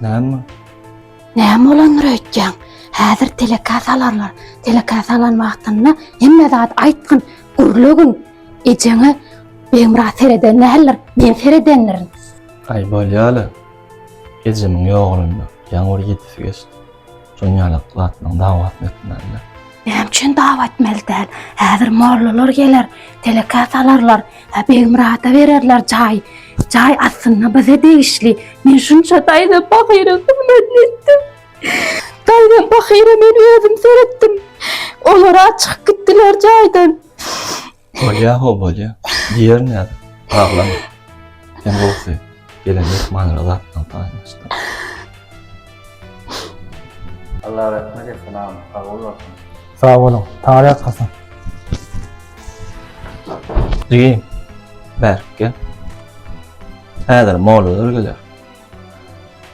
Näme? Näme bolandyr öýtýäň? Häzir teleka salarlar. Teleka salan wagtynda hemme zat aýtgyn, gürlegin. Ejeňe Begmyrat sereden däldir, men seredendirin. Aý bolýa-la. Ejemiň ýogalanda ýaňy bir ýedisi geçdi. Şonuň ýaly gylatmagyň dawasyny etmäliler. Näme üçin dawa etmeli däl? Häzir mollalar geler, telekä salarlar. Hä, Begmyrada bererler jaý. Jaý aslynda bize degişli. Men şunça daýzam pahyra hyzmatyny etdim. Daýzam pahyra men özüm seretdim. Olar-a çykyp gitdiler jaýdan. Bolýa ho bolýa. Diýerin häzir. Aglama. Sen gowusy. Gelen myhmanyna zatlaryňy paýlaşdyr. Allah rahmet etsin agam. Sag bol bolsun. Sag boluň. Taňry ýatgysyn. Jigim. Bärik gel. Häzir mollalar geler.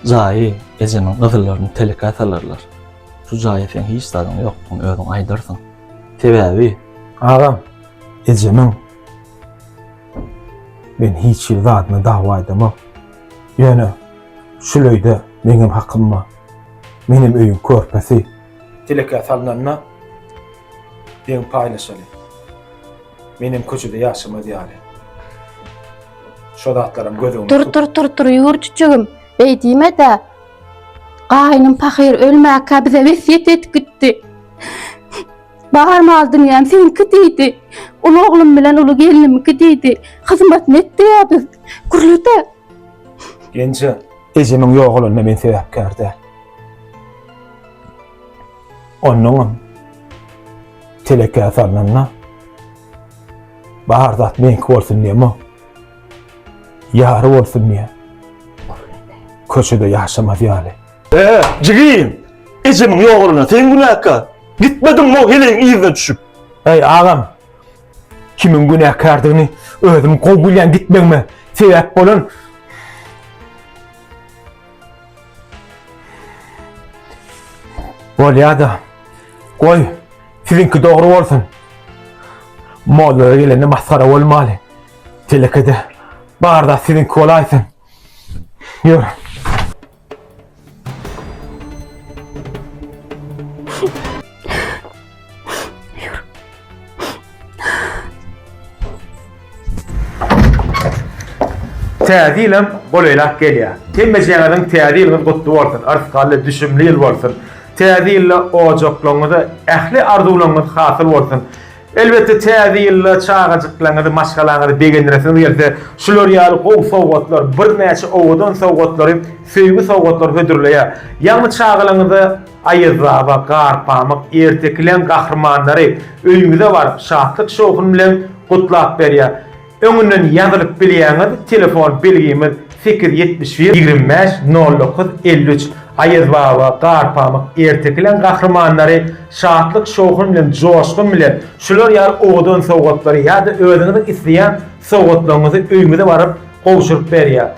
Jaýy ejemiň gyzyllaryny telekä salarlar. Şu jaýa seň hiç zadyň ýokdugyny özüň aýdarsyň. Sebäbi, agam, ejemiň men hiç hili zadyna dawa aýdamok. Ýöne, şul öýde meňem hakym bar. Menem öýüň körpesi. Telekä salnanda deň paýlaşaly. Menem köçede ýaşamaz ýaly. Şo zatlaram göz öňünde tut. Tur, tur, tur, tur, ýur, çüçügim. Beý diýme-dä. Gaýnym pahyr ölmäkä bize wesýet edip gitdi. Bar mal-dünýäm seniňki diýdi. Uly oglum bilen uly gelnimiňki diýdi. Hyzmatyny et diýýä biz. Gürlede. Genje, ejemiň ýogalanyna men sebäpkär däl. Onnoňam telekä salnanda bar zat meňki bolsun diýemok. Ýary bolsun diýýä. Köçede ýaşamaz ýaly. Ee, jigim! Ejemiň ýogalana sen günäkär. Gitmediňmi o heleýiň yzyna düşüp? Eý, agam! Kimiň günäkärdigini özüm gowy bilýän gitmegime sebäp bolan Bolýa-da. Goý, siziňki dogry bolsun. Mollalar gelende masgara bolmaly. Telekede barda siziňki bolaýsyn. Ýör. Täze ýylam golaýlap gelýär. Hemmejiňiziň täze ýylyňyz gutly bolsun, yrsgally, düşümli ýyl bolsun. Täze ýylda ojaklaryňyzda ähli arzuwlaryňyz hasyl bolsun. Elbetde täze ýylda çagajyklaňyzy, maşgalaňyzy begendiresiňiz gelse, şular ýaly gowy sowgatlar, birnäçe owadan sowgatlary, söýgi sowgatlary hödürleýär. Ýagny çagalaňyza Aýazbaba, Garpamyk, Ertekileň gahrymanlary öýüňize baryp, şatlyk-şowhun bilen gutlap berýär. Öňünden ýazylyp bilýäňiz telefon belgimiz sekiz ýetmiş bir ýigrimi bäş nol dokuz elli üç Aýazbaba, Garpamyk, Ertekileň gahrymanlary Şatlyk Şowhun bilen Joşgun bilen şular ýaly owadan sowgatlary ýa-da özüňiziň isleýän sowgatlaryňyzy öýüňize baryp gowşuryp berýär.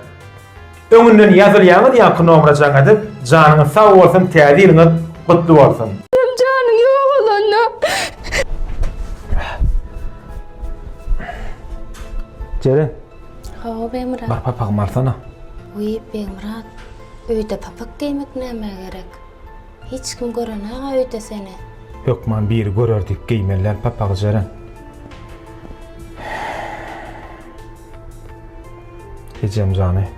Öňünden ýazylýaňyz ýaňky nomra jaň edip janyňyz sag bolsun täze ýylyňyz gutly bolsun. Hem janyň ýogalanda. Jeren. Hawa Begmyrat. Bir papagym alsana. Wiý Begmyrat. Öýde papak geýmek nämä gerek? Hiç kim görenä-ga öýde seni. Hökman biri görer diýip geýmeli däl papagy Jeren. Ejem jany.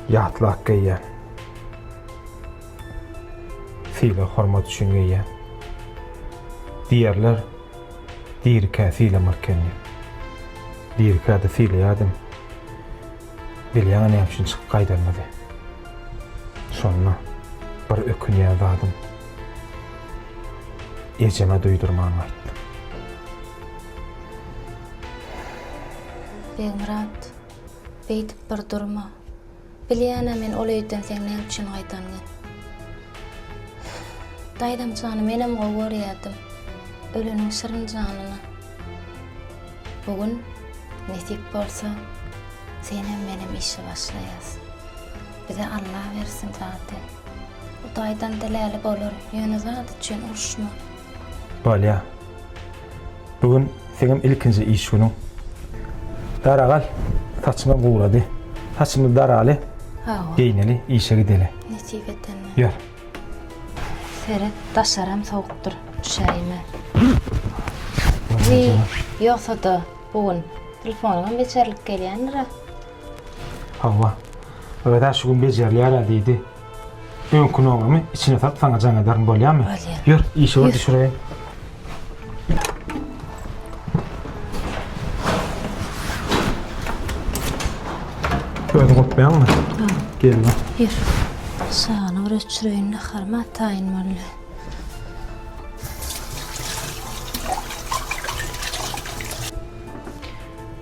Ýatlak geýýän. Sile hormat üçin geýýän. Diýerler, dirikä silemek eken diýip. Dirikä-de sileýärdim. Bilýäňä näme üçin çykyp gaýdanymyzy. Şonda bir ökünýän zadym, ejeme duýdurman gaýtdym. Begmyrat, beýdip bir durma. Bilýän-ä men ol öýden seň näme üçin gaýdanyňy. Daýzamjany menem gowy görýärdim. Öleniň şirin janyna. Bu gün, nesip bolsa, senem menem işe başlaýas. Bize Alla bersin zady. Hudaýdan diläli bolar, ýöne zat üçin uruşma. Bolýa. Bu gün seňem ilkinji iş günüň. Daragal, saçyňy gurady. Saçymyzy daraly. Hawa. Geýneli, işe gideli. Nesip etende. Ýör. Seret, daşaram sowukdyr. Üşäýme. Wiý, ýogsa-da, bu gün telefonyňam bejerlik gelýändir-ä. Hawa, öz-ä şu gün bejerýär-ä, diýdi. Öňki nogrymy içine salyp saňa jaň ederin, bolýamy? Bolýar. Ýör, işege düşüreýin. Özüň otmaýaňmy? Ýok. Gelme. Ýör. Şany bir öçüreýin, naharymy ataýyn bolýa.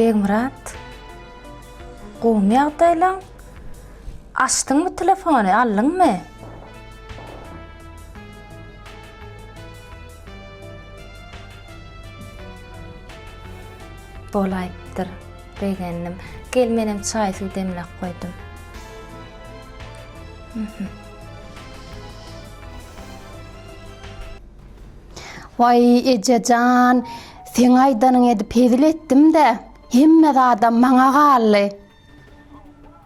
Begmyrat, gowmy ýagdaýlaň? Açdyňmy telefony, aldyňmy? Bolaýypdyr. Begendim. Gel menem çaý suw demläp goýdum. Waý ejejan, seň aýdanyňy edip hezil etdim-de, hemme zadam maňa galdy.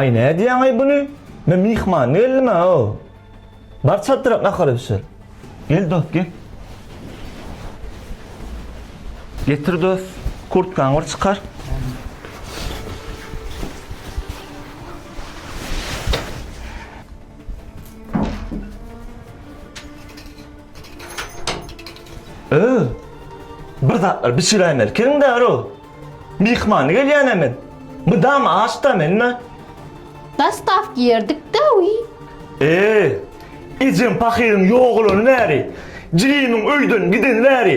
Aý nädýäňaý buny men myhman geldimä o. Bar çadyra nahara bişir. Gel dost gel. Getir dost kurtkaňy bir çykar. Öö bir zatlar bişiräýmeli keriň däro. Myhman gelýän-ä men. Mydama aç-da men-ä. Daş gap giyerdik-dä-uý. Eý, ejem pahyryň ýogalany bäri, jigimiň öýden gideni bäri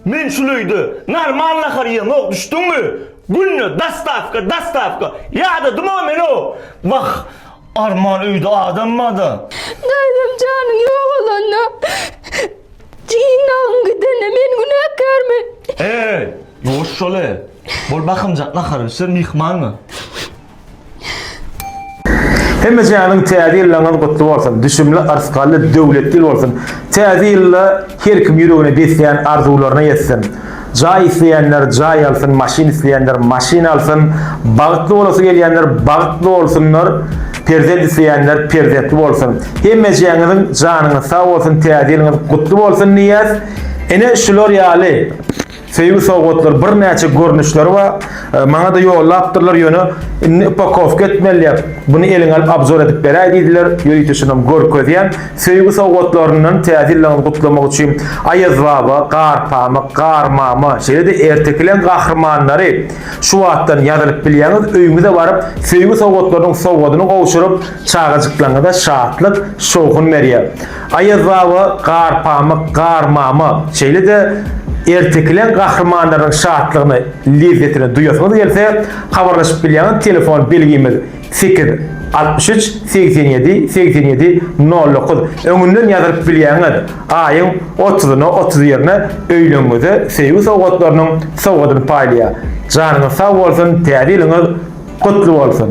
men şul öýde normal nahar iýemok, düşdüňmi? Günde dostawka, dostawka ýadadym-a men-ow. Wah, arman öýde adam bar-da. Daýzam janyň ýogalanda. Jyndagyň gidenine men günäkärmi? Heý, ýuwaş şol-e! Bol bakymjak nahary bişir, myhmanyň. Hemme janyň täze ýyllaňyz gutly bolsun, düşümli, yrsgally, döwletli ýyl bolsun! Täze ýylda her kim ýüregine besleýän arzuwlaryna ýetsin! Jaý isleýänler jaý alsyn, maşyn isleýänler maşyn alsyn, bagtly bolasy gelýänler bagtly bolsunlar, perzent isleýänler perzentli bolsun. Hemmejäňiziň janyňyz sag bolsun, Täze ýylyňyz gutly bolsun diýýäs. Ine şular ýaly söýgi sowgatlar birnäçe görnüşleri bar. Maňa-da ýollapdyrlar ýöne indi upakowka etmeli diýip, muny eliňe alyp abzor edip beräý diýdiler. Ýörite şonam görkezýän. Söýgi sowgatlaryndan Täze ýyllyňyzy gutlamak üçin Aýazbaba, Garpamyk, Garmama, şeýle-de ertekileň gahrymanlary şu wagtdan ýazylyp bilýäňiz, öýüňize baryp, söýgi sowgatlarynyň sowgadyny gowşuryp, çagajyklaryňyza şatlyk, şowhun berýär. Aýazbaba, Garpamyk, Garmama, şeýle-de ertekileň gahrymanlarynyň şatlygyny, lezzetini duýasyňyz gelse, habarlaşyp bilýäňiz, telefon belgimiz. Sekiz, altmyş üç, segsen ýedi, segsen ýedi, nol dokuz, öňünden ýazylyp bilýäňiz, aýyň otuzyna otuz birine öýlügiňize söýgi sowgatlarynyň sowgadyny paýlaýar. Janyňyz sag bolsun, täze ýylyňyz gutly bolsun!